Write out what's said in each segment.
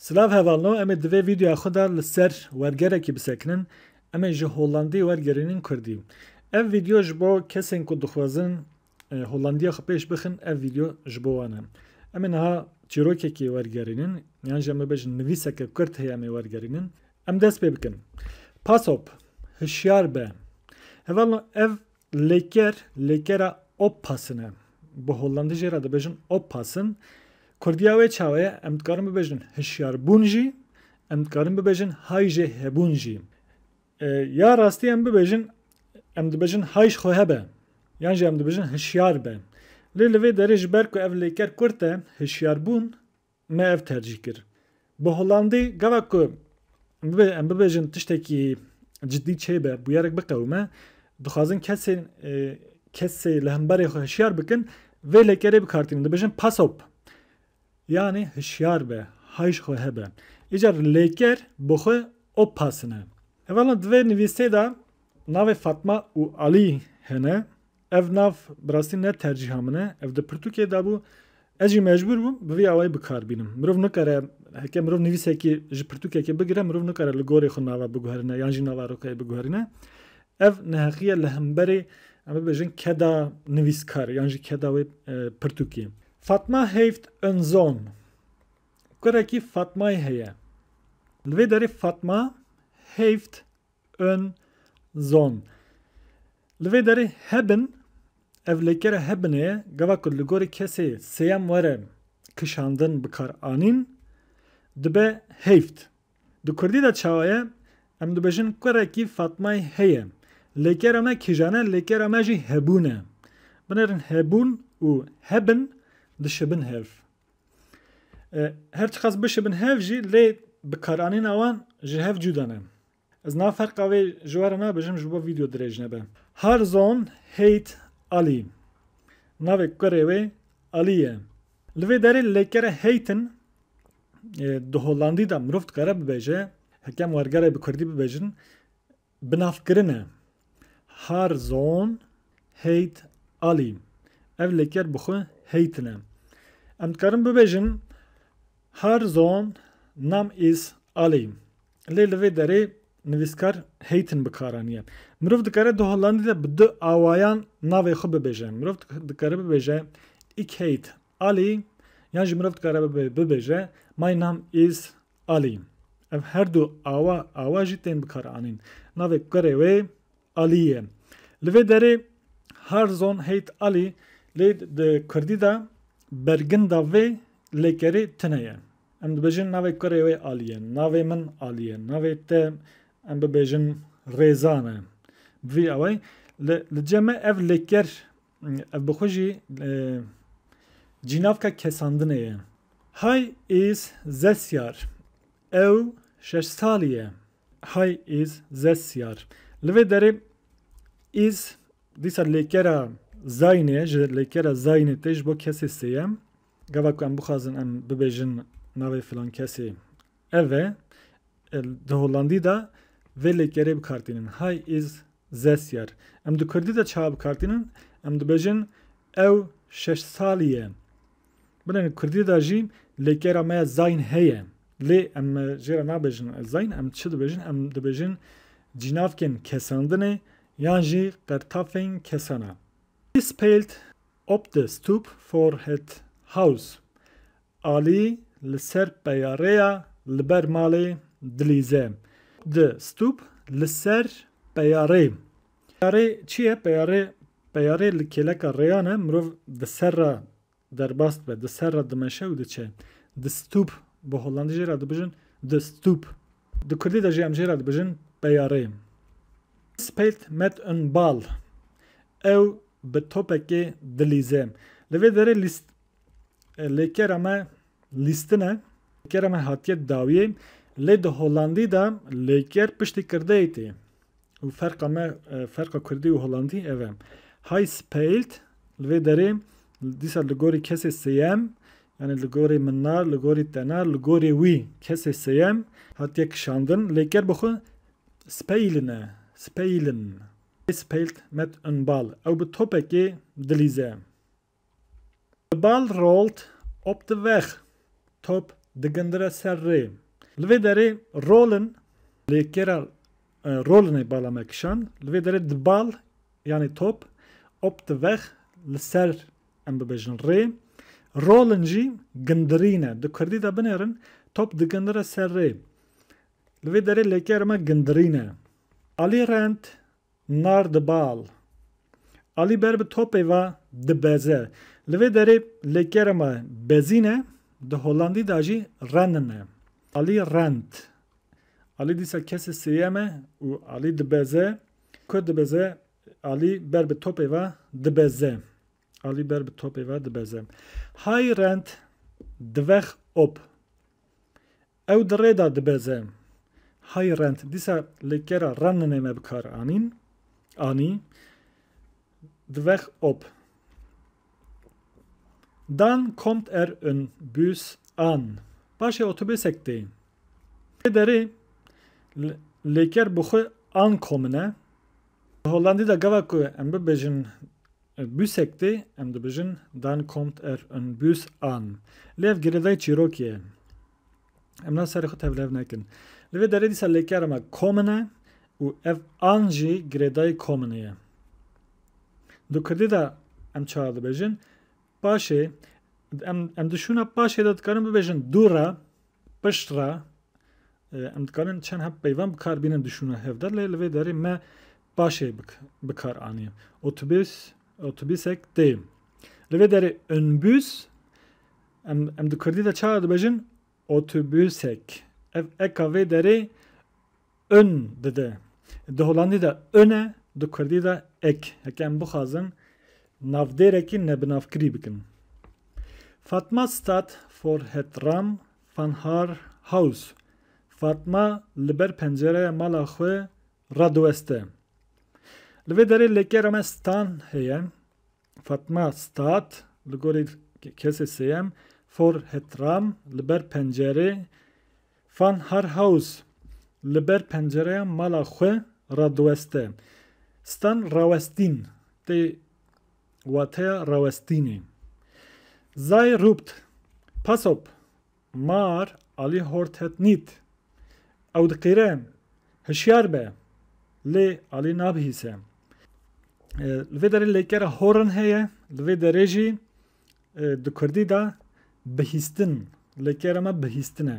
Silav hevalno em ê divê vîdeoya xwe de li ser wergerekî bisekinin, em ê ji Hollandî wergerînin Kurdî. Ev vîdeo ji bo kesên ku dixwazin Hollandiya xwe pêş bixin ev vîdeo ji bo wan e. Em ê niha çîrokekê wergerînin yan jî em bibêjin nivîseke Kurd heye em ê wergerînin. Em dest pê bikin. Pasop, hişyar be. Hevalno ev Lêker, lêkera oppassen e. Bi hollandî jê re dibêjin oppassen. Kurdiya wê çawa ye? Em dikarin bibêjin hişyarbûn jî, em dikarin bibêjin hay jê hebûn jî. Ya rastî em bibêjin em dibêjin hay ji xwe hebe yan jî em dibêjin hişyar be. Lê li vê derê ji ber ku ev lêker kurt e, hişyarbûn Me ev tercîh kir. Bi Holandî gava ku em bibêjin tiştekî cidî çêbe, bûyerek biqewime, dixwazin kesên kesê li hemberê xwe hişyar bikin, vê lekerê bikartînin. Dibêjin pass op. Yanî hişyar be, hay ji xwe hebe. Îcar lêker bi xwe op pass in e. Hevalên di vê nivîsê de navê Fatma û Alî hene. Ev nav bi rastî ne tercîha min e, ev di pirtûkê de bû. Ez jî mecbûr bûm bi vî awayî bikar bînim. Mirov nikare heke mirov nivîsekî ji pirtûkekê bigire mirov nikare li gorê xwe nava biguherîne yan jî nava rokeyê biguherîne. Ev neheqiye li hemberî em bibêjin keda nivîskar yan jî keda wê pirtûkê. Fatma Heyft Önzon kurekî Fatmayê heye. Li vê derê Fatma Heyft Ön, zon, Li vê derê hebin, ev lêkere hebinê ye, gava ku li gorî kesê sêyem were kişandin bikar anîn, dibe heyft. Di kurdî de çawa ye? Em dibêjin kurekî Fatmayê heye. Lêkera me kîjan e? Lêkera me jî hebûn e. Binêrin hebûn û hebin dişibin hev. Her çiqas bişibin hev jî lê bikaranîna wan ji hev cuda ne. Ez nav ferqa vê ji we re nabijim ji bo vîdeo dirêj nebe. Harzon Heyt Ali Navê kurê wê Ali ye. Li vê derê lêkere heyt in di Holandî de mirov dikare bibêje, hekem wergere bi kurdî bibêjin, Binavkirin e. Har Zon Heyt Ali Ev lêker bi xwe heytin e. Em dikarin bibêjin Har Zon Nam is Ali. Lê li vê derê nivîskar heytin bi kar aniye. Mirov dikare di Hollandî de bi du awayan navê xwe bibêje. Mirov dikare bibêje Ik heet Ali yan jî mirov dikare bibêje Mein Naam is Alî. Ev her du awa awa jî tên bikaranîn. Navê kurê wê Alî ye. Li vê derê Har zon heyt Alî lê di kurdî de berginda vê lêkerê tune ye. Em dibêjin navê kurê wê Alî ye, navê min Alî ye, navê te em bibêjin Rêza ne. Bi vî awayî li cem e ev lêker Ev bi xwe jî cînavka kesandinê ye. Hay Îz Zesyar ew şeş salî ye. Hay Îz Zesyar li vê derê Îz dîsa lêkera Zaynê ji lêkera Zaynê tê ji bo kesê sêyem. Gava ku em bixwazin em bibêjin navê filankesê Ev e, di Hollandî de vê lêkerê bikartînin, Hy is zes jaar. Em di Kurdî de çawa bikartînin? Em dibêjin ew şeş salî ye. Belê di Kurdî de jî lêkera me ya zayn heye. Lê em jê re nabêjin zayn, em çi dibêjin? Em dibêjin cînavkên kesandinê yan jî qertafên kesan e. He spelt op the stoop for het house. Alî li ser peya rê ya li ber malê dilîze. Di stûp li ser peya rê. Peya rê çi ye? Peya rê Peya rê li kêleka rêyan e, mirov di ser re derbas dibe, di ser re dimeşe û diçe. Di stûp Bi hollandî jê re dibijin de Stoep. Di kurdî de jî em jê re dibijin peya rê. Spilt met een bal Ew bi topekê dilîze. Li vê derê lîst. Lê kera me lîstin e. Kera me hatiye dawiyê. Lê di Holandî de lêker piştî kirdeyê tê. Û ferqa me ferqa kurdî û holandî ev e. Hay speilt li vê derê dîsa li gorî kesê sêyem yani li gorî min na, li gorî te na, li gorî wî kesê sêyem hatiye kişandin. Lêker bi xwe speilin e. Speilin. Speilt met unbal. Ew bi topekê dilîze. Bi bal rolt op di vex, top digindire ser rê. Li vê derê rolin lê kêra rolinê bala me kişand. Li vê derê di bal yanê top, op di vex li ser em bibêjin rê. Rolin jî gindirîn e. Di kurdî de binêrin top digindire ser rê. Li vê derê lêkêra me gindirîn e. Alî rend Nar di bal. Alî ber bi topê ve dibeze. Li vê derê lê kerema bezîn e, di Holandî de jî renin e. Alî rend. Alî dîsa kesê sêyem e û alî dibeze. Ku dibeze Alî ber bi topê ve dibeze. Alî ber bi topê ve dibeze. Hay rend divex op. Ew di rê de dibeze. Hay rent dîsa li kera renine me bikar anîn, anî, dvex op. Dan kommt er en Bus an. Paşê otobusek tê. Tê derê lêker bi xwe ankomine. Di Hollandî de gava ku em bibêjin Büsekti, em dibijin dann kommt er en Bus an. Lê ev girêdayî çîrokî ye. Em niha serê xwe tevlihev nekin. Li vê derê dîsa lêkera me kommen e û ev an jî girêdayî kommenê ye. Di kurdî de em çawa dibêjin? Paşê, em em di şûna paşê de dikarin bibêjin dû re, Pişt re em dikarin çend heb peyvan bi kar bînin dişûne hev de lê li vê derê me paşê bi kar anî. Otobûs otobîsek tê. Li vê derê önbûs em em di kurdî de çawa dibêjin otobûsek. Ev eka vê derê Un dide. Di holandî de un e, di kurdî de ik. Heke em bixwazin navdêrekî nebinavkirî bikin. Fatma stad for het ram van haar huis. Fatma li ber pencereya mala xwe radiweste. Li vê derê lêkera me stan heye. Fatma stad, li gorî kesê sêyem, for het ram, li ber pencerê, Van Har Haus li ber pencereya mala xwe re diweste. Stan rawestîn tê wateya rawestînê. Sei rûpt, pass op, mar alî hort het nît. Ew diqîre, hişyar be, lê alî nabihîse. Li vê derê lêkera horin heye, li vê derê jî Di kurdî de bihîstin, lê kêra me bihîstin e.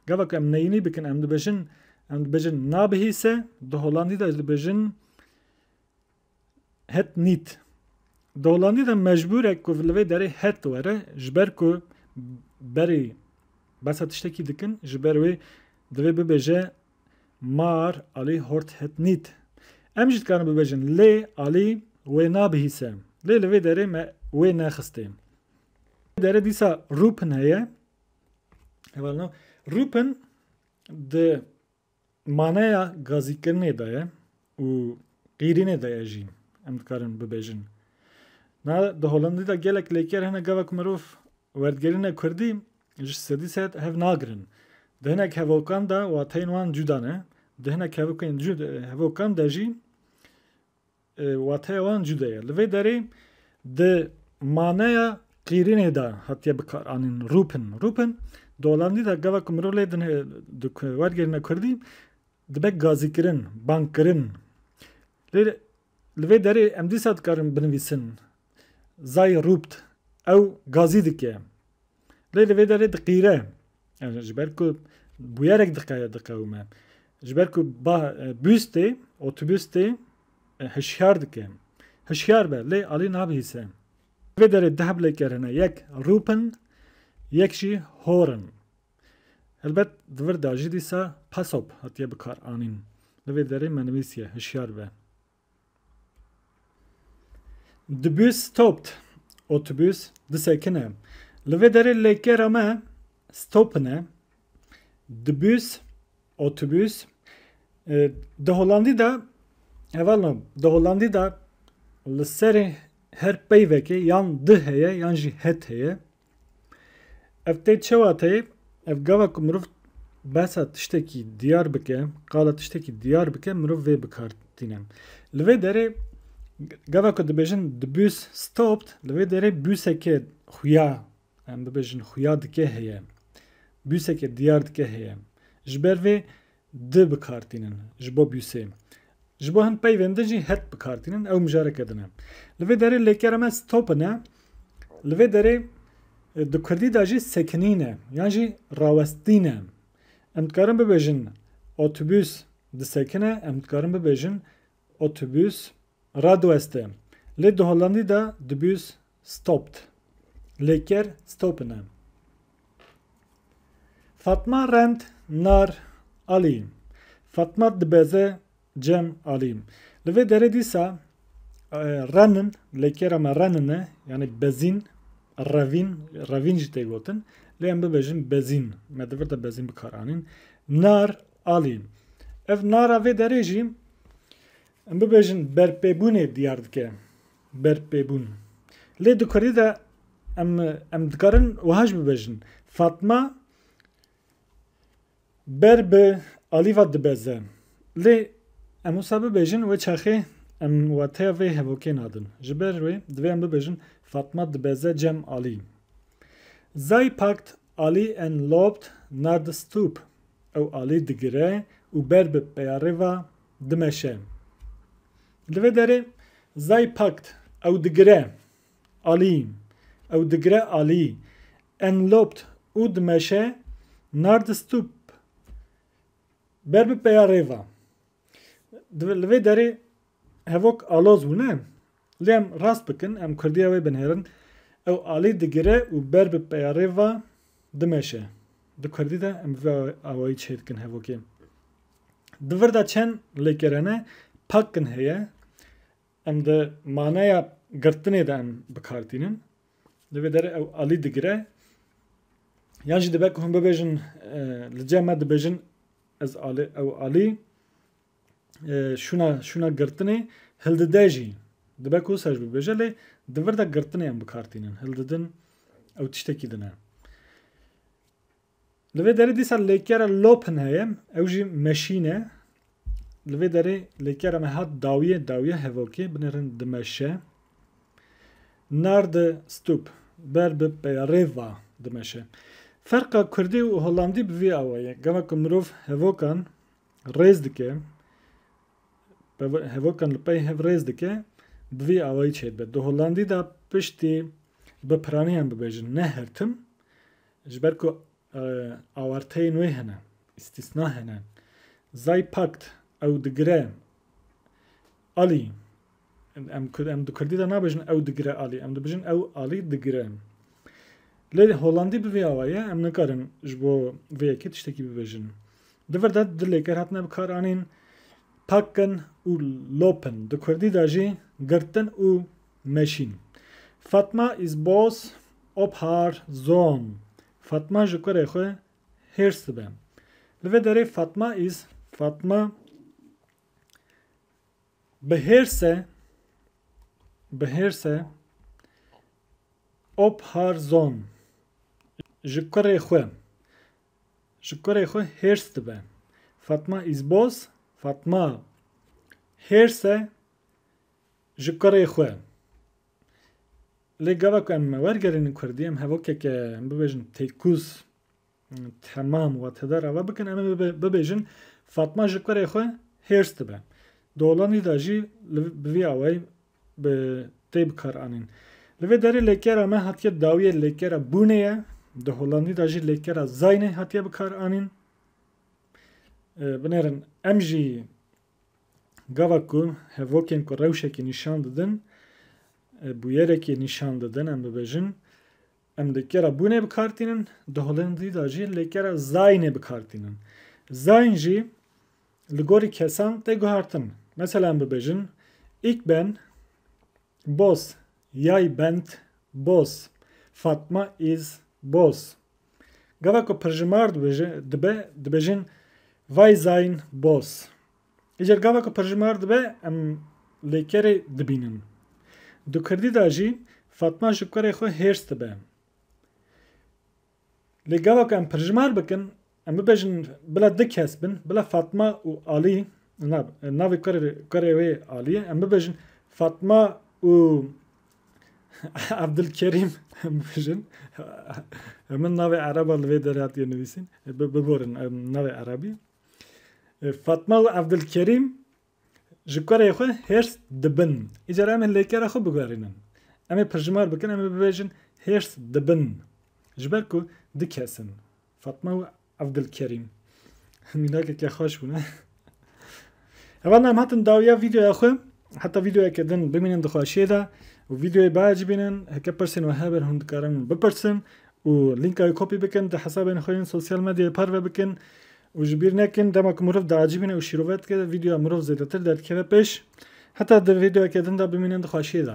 Gava ku em neyînî bikin em dibêjin em dibêjin nabihîse, di holandî de jî dibêjin het nît. Di holandî de mecbûr e ku li vê derê het were ji ber ku berê behsa tiştekî dikin ji ber wê divê bibêje mar alî hort het nît. Em jî dikarin bibêjin lê alî wê nabihîse. Lê li vê derê me wê nexistê. Vê derê dîsa rûpin heye. Heval nav. Rûpin di maneya gazîkirinê de ye. û qîrînê de ye jî em dikarin bibêjin. Na di Holandî de gelek lêker hene gava ku mirov werdigerîne kurdî ji sedî sed hev nagirin. Di hinek hevokan de wateyên wan cuda ne, di hinek hevokên hevokan de jî wateya wan cuda ye. Li vê derê di maneya qîrînê de hatiye bikaranîn rûpin. Rûpin di Holandî de gava ku mirov lê din di werdigerîne kurdî Dibe gazîkirin, bangkirin. Lê li vê derê em dîsa dikarin binivîsin Sei rupt, ew gazî dike. Lê li vê derê diqîre. Ji ber ku bûyerek diqewime. Ji ber ku bus tê, otobus tê hişyar dike. Hişyar be lê alî nabihîse. Li vê derê duh bilêker hene, yek rup in, yek jî hor in. Helbet di vir de jî dîsa PASOP hatiye bikaranîn. Li vê derê me nivîsiye, hişyar be. The bus stopped. Otobus disekine. Li vê derê lêkera me stopped e. The bus, otobus. Di Holandî de hevalno di Holandî de li serê her peyvekê yan di heye yan jî het heye. Ev tê çewa tê? Ev gava ku mirov behsa tiştekî diyar bike, qala tiştekî diyar bike mirov vê bi kar tîne. Li vê derê gava ku dibêjin the bus stopped li vê derê buseke xuya em bibêjin xuya dike heye. Buseke diyar dike heye. Ji ber vê Di bi kar tînin ji bo bûsê. Ji bo hin peyvên din jî het bi kar tînin, ew mijareke din e. Li vê derê lêkera me stop in e. Li vê derê di kurdî de jî sekinîn e yan jî rawestîn e. Em dikarin bibêjin otobûs disekine, em dikarin bibêjin otobûs radiweste. Lê di holandî de dibûs Stopped, lê ker stoppen e. Fatma rent nar Ali, Fatma dibeze cem Ali. Li vê derê dîsa renin, lê kera me renin e, yanî bezîn, revîn, revîn jî tê gotin, lê em bibêjin bezîn, me di vir de bezîn bi kar anîn. Nar Ali, ev nara vê derê jî em bibêjin berpêbûnê diyar dike. berpêbûn. Lê di kurdî de em em dikarin wiha jî bibêjin, Fatma ber bi Alîva dibeze. Lê em wisa bibêjin wê çaxê em wateya vê hevokê nadin. Ji ber wê divê em bibêjin, Fatma dibeze cem Alî. Zay packt Alî en loopt naar de stoep, ew Alî digire û ber bi peyarê va dimeşe. Li vê derê Zay Pakt ew digire alî, ew digire alî, enlobt û dimeşe Nardstup ber bi peya rêva. Li vê derê hevok aloz bû ne? Lê em rast bikin, em kurdiya wê binêrin, ew alî digire û ber bi peyarê va dimeşe. Di kurdî de em bi vê awayî çê dikin hevokê. Di vir de çend lêkerene pakin heye, em di maneya girtinê de em bi kar tînin. Li vê derê ew alî digire. Yan jî dibe ku hûn bibêjin li cem me dibêjin ez alî ew alî. şûna şûna girtinê hildide jî dibe ku ser ji bî bêje lê di vir de girtinê em bikar tînin. Hildidin ew tiştekî din e. Li vê derê dîsa lêkere lopin heye ew jî meşîn e. Li vê derê lêkere me hat dawiyê dawiya hevokê binêrin dimeşe. Nardi stûp ber bi peyarê va dimeşe. Ferqa Kurdî û Holandî bi vî awa ye. Gava ku mirov hevokan rêz dike, hevokan li pey hev rêz dike bi vî awayî çêdibe. Di Hollandî de piştî bi piraniyan bibêjin ne her tim ji ber ku awarteyên wê hene, îstîsna hene. Zaypakt ew digire alî. Em em di kurdî de nabêjin ew digire alî, em dibêjin ew alî digire. Lê holandî bi vê awa ye, em nikarin ji bo vê yekê tiştekî bibêjin. Di vir de du lêker hatine bikaranîn, packen û lopen. Di kurdî de jî girtin û meşîn. Fatma is bos op har zon. Fatma ji kurê xwe hêrs dibe. Li vê derê Fatma is Fatma Bi hêrse, bi hêrse Opharzon ji kurê xwe, ji kurê xwe hêrs dibe. Fatma Izboz, Fatma hêrse ji kurê xwe. Lê gava ku em wergerînin kurdî, em hevokeke em bibêjin têkûz, Temam we tede rava bikin em ê bibêjin Fatma ji kurê xwe hêrs dibe. Di Hollandîda jî li bi vî awayî bi tê bikaranîn. Li vê derê lêkera me hatiye dawiyê lêkera bûnê ye. Di Hollandîda jî lêkera zaynê hatiye bikaranîn. Binêrin em jî gava ku hevokên ku rewşekî nîşan didin bûyerekî nîşan didin em bibêjin. Em lêkera bûnê bi kar tînin, di holindî de jî lêkera zayînê bi kar tînin. Zayîn jî li gorî kesan tê guhertin. Mesela em bibêjin Ik ben boz, yay bent boz, Fatma iz boz. Gava ku pirjimar dibe dibêjin Vay zayîn boz. Îcar gava ku pirjimar dibe em lêkerê dibînin. Di kurdî de jî Fatma ji kurê xwe hêrs dibe. Lê gava ku em pirjimar bikin em bibêjin bila du kes bin bila Fatma û Alî na navê kurê wê Alî ye em bibêjin Fatma û Evdilkerîm em bibêjin min navê ereba li vê derê hatiye nivîsîn biborin navê erebî. Fatma û Evdilkerîm ji kurê xwe hêrs dibin. Îcar em ê lêkera xwe bigerînin. Em ê pirjimar bikin, em ê bibêjin hêrs dibin. Ji ber ku du kes in. Fatma û Evdilkerîm. Mînakeke xweş bûne. Hevalna em hatin dawiya vîdeoya xwe Heta vîdeoyeke din bimînin di xweşiyê de û vîdeoyê behecî bînin. Heke pirsên we hebe hûn dikarin bipirsin û lînka wê kopî bikin, di hesabên xwe yên sosyal medyayê parve bikin û ji bîr nekin dema ku mirov diacîbîne û şîrove dike vîdeoya mirov zêdetir derdikeve pêş. Heta di vîdeoyeke din de bimînin di xweşiyê de.